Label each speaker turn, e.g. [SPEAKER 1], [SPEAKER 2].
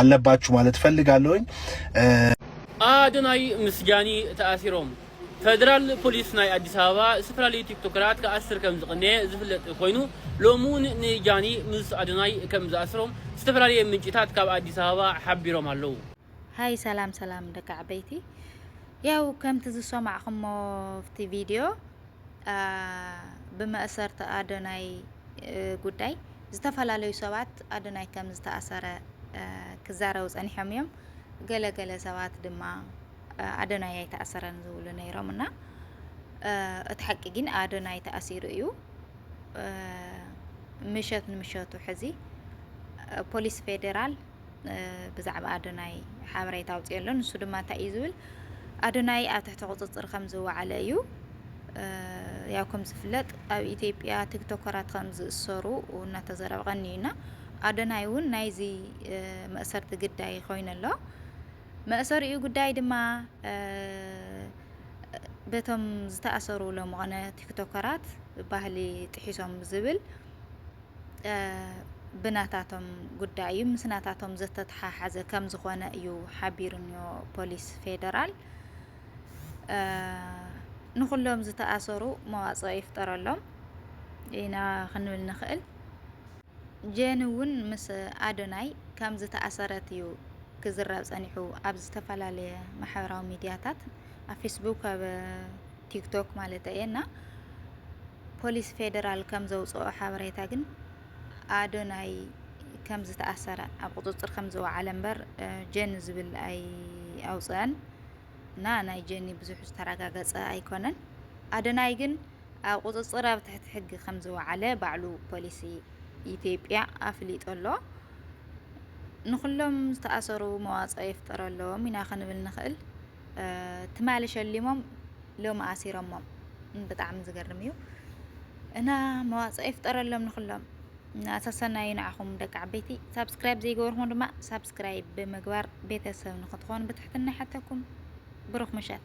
[SPEAKER 1] ኣለባችሁ ማለት እፈልጋለሁኝ።
[SPEAKER 2] ኣዶናይ ምስ ጃኒ ተኣሲሮም። ፈደራል ፖሊስ ናይ ኣዲስ ኣበባ ዝተፈላለዩ ቲክቶከራት ክኣስር ከም ዝቐነየ ዝፍለጥ ኮይኑ ሎሚ እውን ንጃኒ ምስ ኣዶናይ ከም ዝኣስሮም ዝተፈላለየ ምንጭታት ካብ ኣዲስ ኣበባ ሓቢሮም ኣለዉ። ሃይ ሰላም
[SPEAKER 3] ሰላም ደቂ ዓበይቲ ያው ከምቲ ዝሰማዕኹሞ ኣብቲ ቪድዮ ብመእሰርቲ ኣዶናይ ጉዳይ ዝተፈላለዩ ሰባት ኣዶናይ ከም ዝተኣሰረ ክዛረቡ ጸኒሖም እዮም። ገለ ገለ ሰባት ድማ ኣዶናይ ኣይተኣሰረን ዝብሉ ነይሮም እና እቲ ሓቂ ግን ኣዶናይ ተኣሲሩ እዩ። ምሸት ንምሸቱ ሕዚ ፖሊስ ፌዴራል ብዛዕባ ኣዶናይ ሓበሬታ ኣውፅኦ ኣሎ ንሱ ድማ እንታይ እዩ ዝብል ኣዶናይ ኣብ ትሕቲ ቁፅፅር ከም ዝወዓለ እዩ ያው ከም ዝፍለጥ ኣብ ኢትዮጵያ ቲክቶከራት ከም ዝእሰሩ እናተዘረበ ቀኒዩና ኣዶናይ እውን ናይዚ መእሰርቲ ግዳይ ኮይኑ ኣሎ መእሰሪኡ ጉዳይ ድማ በቶም ዝተኣሰሩ ለምኾነ ቲክቶከራት ባህሊ ጥሒሶም ዝብል ብናታቶም ጉዳይ እዩ፣ ምስ ናታቶም ዘተተሓሓዘ ከምዝኾነ እዩ ሓቢሩኒዮ ፖሊስ ፌደራል። ንኹሎም ዝተኣሰሩ መዋፅኦ ይፍጠረሎም ኢና ክንብል ንኽእል። ጀን እውን ምስ ኣዶናይ ከም ዝተኣሰረት እዩ ክዝረብ ጸኒሑ ኣብ ዝተፈላለየ ማሕበራዊ ሚድያታት። ኣብ ፌስቡክ ኣብ ቲክቶክ ማለተይ እየ እና ፖሊስ ፌዴራል ከም ዘውፅኦ ሓበሬታ ግን ኣዶናይ ከም ዝተኣሰረ ኣብ ቁፅፅር ከም ዝወዓለ እምበር ጀኒ ዝብል ኣይ ኣውፅአን እና ናይ ጀኒ ብዙሕ ዝተረጋገፀ ኣይኮነን። ኣዶናይ ግን ኣብ ቁፅፅር ኣብ ትሕቲ ሕጊ ከም ዝወዓለ ባዕሉ ፖሊሲ ኢትዮጵያ ኣፍሊጡ ኣሎ። ንኹሎም ዝተኣሰሩ መዋጽኦ ይፍጠረሎም ኢና ክንብል ንኽእል። ትማሊ ሸሊሞም ሎሚ ኣሲሮሞም ብጣዕሚ ዝገርም እዩ እና መዋጽኦ ይፍጠረሎም ንኹሎም እና ሰሰናዩ ንዓኹም ደቂ ዓበይቲ ሳብስክራይብ ዘይገበርኩም ድማ ሳብስክራይብ ብምግባር ቤተሰብ ንክትኾኑ ብትሕትና ሓተኩም ብሩኽ ምሸት